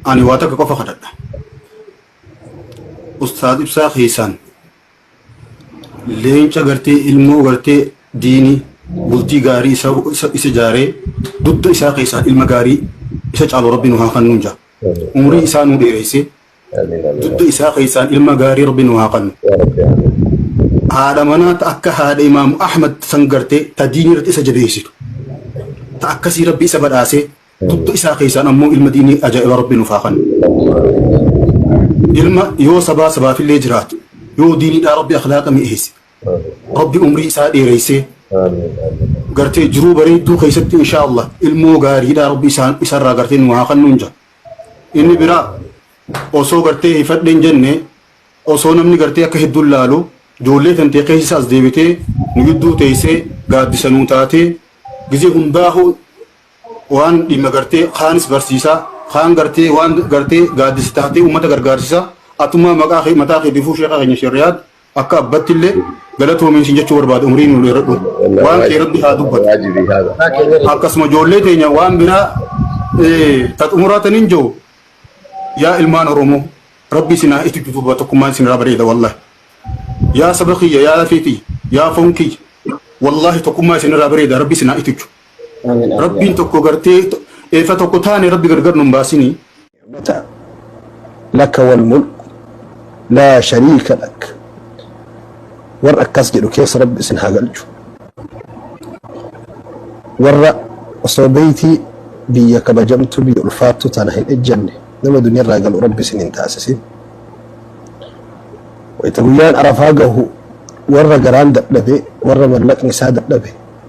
Ani waa takka qofa kadhadha. Ustaaz ibsaa keessaan leenca gartee ilmoo gartee diini bultii gaarii isa isa- isa jaaree dugda isaa keessaan ilma gaarii isa caalu rabbi nu haa kennu jaa. Umrii isaa nu dheereyse Amiin amiin. dugda isaa keessaan ilma gaarii rabbi nu haa kennu. Yaa Rabbi amiin. Haadha manaa ta akka haadha imaamu Ahmad san gartee ta diinii irratti isa jabeessitu. Ta akkasii rabbi isa badhaasee Dugda isaa keessaan ammoo ilma diinii ajaa'ibaa Rabbi nuuf haa kennu. Ilma yoo sabaa sabaafillee jiraate, yoo diiniidhaa Rabbi akhlaaqa mi'eesse, Rabbi umrii isaa dheereessee, gartee jiruu bareedduu keessatti inshaa Allah ilmoo gaariidhaa Rabbi isaan isarraa gartee nu haa kennuun jaa. Inni biraa osoo gartee hifadheen jenne osoo namni gartee akka hedduun laalu ijoollee tantee keessa as deebitee nu gidduu teessee gaaddisa nuu taatee gizee hundaa'uu waan dhimma gartee kaanis barsiisaa kaan gartee waan gartee gaaddisa taatee uummata gargaarsisaa atummaa maqaa kee mataa kee bifuu sheekaa keenya shirriyaad akka abbatti illee galatoomiin siin jechuu barbaada umrii nu dheeradhu waan kee rabbi haa dubbatu واجبي هذا akkasuma ijoollee teenya waan biraa eh, ta xumuraataniin jiru yaa ilmaan oromoo rabbi isin haa itti duuba tokkummaan isin irraa bareeda wallahi yaa saba kiyya yaa lafeetii yaa foon kiyya wallahi tokkummaa isin irraa bareeda rabbi isin haa itti Amiin amiin Rabbiin yaa tokko gartee to- eefa tokko taane rabbi gargar nun baasini. Rabbi. Laka wal mulku laa shariika lak. Warra akkas jedhu keessa rabbi isin haa galchu. Warra osoo beeytii biyya kabajamtu biyya ulfaattu tana hin ejjanne nama duniyarraa galu rabbi isin hin taasisin. Wayita guyyaan arafaa gahu warra garaan dadhabe warra mallaqni isaa dadhabe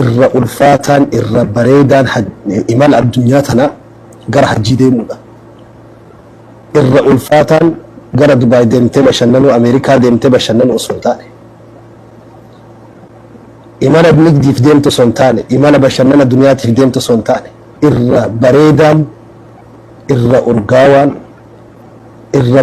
irra ulfaataan irra bareedaan imala addunyaa tanaa gara hajjii deemuudha. Irra ulfaataan gara Dubaay deemtee bashannanuu Ameerikaa deemtee bashannanuu osoo hin taane imala nigdiif deemtu osoo hin taane imala bashannana duniyaatiif deemtu osoo hin taane irra bareedaan irra urgaawaan irra